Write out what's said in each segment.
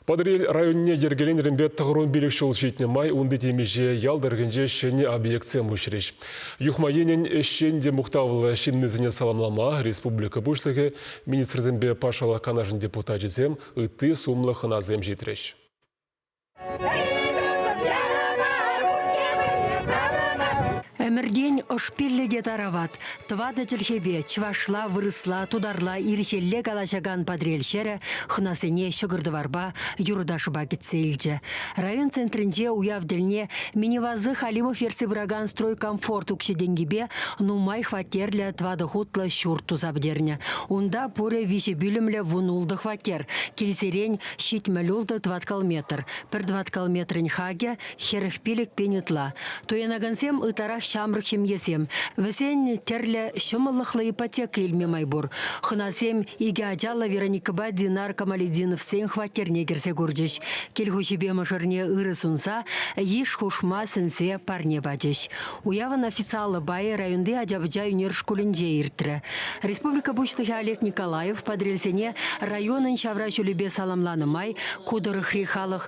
Патӑрьел районне йӗркеленӗренпе тӑхӑрвун пилӗк ҫул ҫитнӗ май унти темиҫе ял тӑрӑхӗнче ҫӗнӗ объектсем уҫрӗҫ. Юхма енӗн ӗҫчен те мухтавлӑ ҫыннисене саламлама республика Пуҫлӑхӗ, министрсемпе патшалӑх канашӗн депутачӗсем ытти сумлӑ хӑнасем ҫитрӗҫ. Ӗмӗртен ӑш пиллӗ те тарават. Тӑватӑ чӗлхепе, чӑвашла, вырӑсла, тутарла, ирҫелле калаҫакан Патрел ҫӗрӗ хӑнасене ҫӑкӑр-тӑварпа, юрӑ-ташӑпа кӗтсе илчӗ. Район центрӗнче уяв тӗлне Минивазы Халимов ертсе пыракан Стройкомфорт укҫи-тенкипе нумай хваттерлӗ тӑватӑ хутлӑ ҫурт туса пӗтернӗ. Унта пурӗ виҫӗ пӳлӗмлӗ вунултӑ хваттер, килсерен ҫитмӗл ултӑ тӑваткал метр, пӗр тӑваткал метрӗн хакӗ, Хӗрӗх пилӗк пин ытла. Туянакансем ытларах ҫамрӑк ҫемьесем. Вӗсен тӗрлӗ ҫӑмӑллӑхлӑ ипотека илме май пур. Хӑнасем икӗ ачаллӑ Вероникӑпа Динар Камалетдиновсен хваттерне кӗрсе курчӗҫ. Кил хуҫипе мӑшӑрне ырӑ сунса, йыш хушма сӗнсе парне пачӗҫ. Уявӑн официаллӑ пайӗ районти ача-пӑча ӳнер шкулӗнче иртрӗ. Республика Пуҫлӑхӗ Олег Николаев Патрельсене районӑн ҫавра ҫулӗпе саламланӑ май ку тӑрӑхри халӑх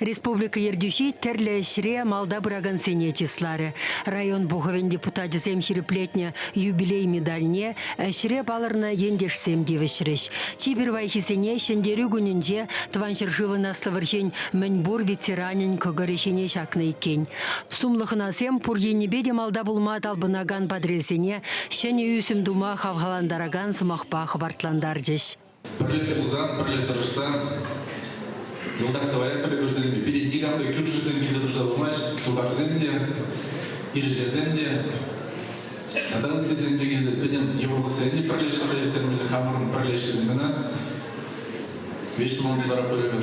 Республика Ертӳҫи тӗрлӗ ӗҫре малта пыракансене чысларӗ. Район Пухӑвӗн депутачӗсем ҫирӗплетнӗ юбилей медальне ӗҫре палӑрнӑ ентешсем тивӗҫрӗҫ. Чи пирвайхисене Ҫӗнтерӳ кунӗнче Тӑван ҫӗршывӑн Аслӑ вӑрҫин мӗн пур ветеранӗн кӑкӑрӗ ҫине ҫакнӑ иккен. Сумлӑ хӑнасем пур енӗпе те малта пулма талпӑнакан патрельсене ҫӗнӗ ӳсӗм тума хавхалантаракан сӑмахпа хӑпартлантарчӗҫ. Пӗрле пулсан, пӗрле тӑрӑшсан йӑлтах тӑвая пӗлӳ кӳрсен пире никам та кӳршӗсем килсе туса пымасть, тутарсем те, ирҫесем те тата ыттисем те килсе пӗтӗм йывӑрлӑхсене пӗрле ҫӑлса ирттермелле хамӑрӑн пӗрле ӗҫлесен кӑна. Веҫ туман вара пӗлӗвӗр.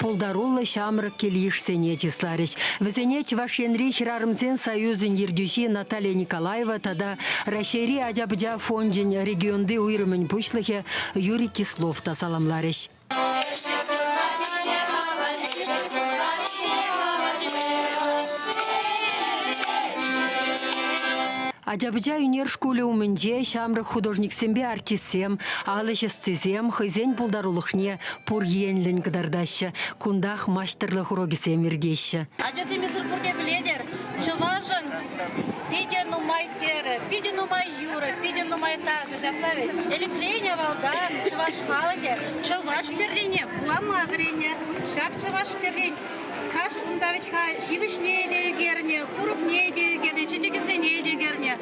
пултаруллӑ ҫамрӑк кил-йышсене чысларӗҫ. Вӗсене Чӑваш Енри Хӗрарӑмсен союзӗн ертӳҫи Наталья Николаева тата Раҫҫейри ача-пӑча фончӗн регионти уйрӑмӗн пуҫлӑхӗ Юрий Кислов та саламларӗҫ. Ача-пӑча ӳнер шкулӗ умӗнче ҫамрӑк художниксемпе артистсем, ал ӗҫ ӑстисем хӑйсен пултарулӑхне, Пур енлӗн кӑтартаҫҫӗ, кунтах маҫтӑрлӑх урокӗсем иртеҫҫӗ. Ачасем эсир пурте пӗлетӗр, чӑвашӑн питӗ нумай терӗ, питӗ нумай юрӑ, питӗ нумай ташӑ. Ҫапла вӗт. Элӗкрен авалтан чӑваш халӑхӗ чӑваш тӗррине вулама вӗреннӗ. Ҫак чӑваш тӗррин каш унта вӗт-ха ҫивӗчне те ӳкернӗ, курӑкне те ӳкернӗ, чечекӗсене те ӳкернӗ.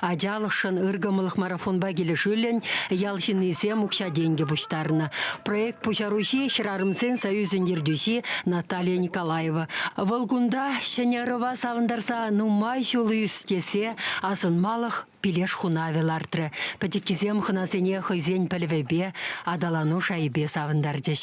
Ачалӑхшӑн ыркӑмӑллӑх марафонпа килӗшӳллӗн ял ҫыннисем укҫа-тенкӗ пуҫтарнӑ. Проект пуҫаруҫи хӗрарӑмсен союзӗн ертӳҫи Наталья Николаева. Вӑл кунта ҫӗнӗ ӑрӑва савӑнтарса нумай ҫул ӳстесе асӑнмалӑх пилеш хунавӗ лартрӗ. Пӗчӗккисем хӑнасене хӑйсен пӗлӗвӗпе, аталану шайӗпе савӑнтарчӗҫ.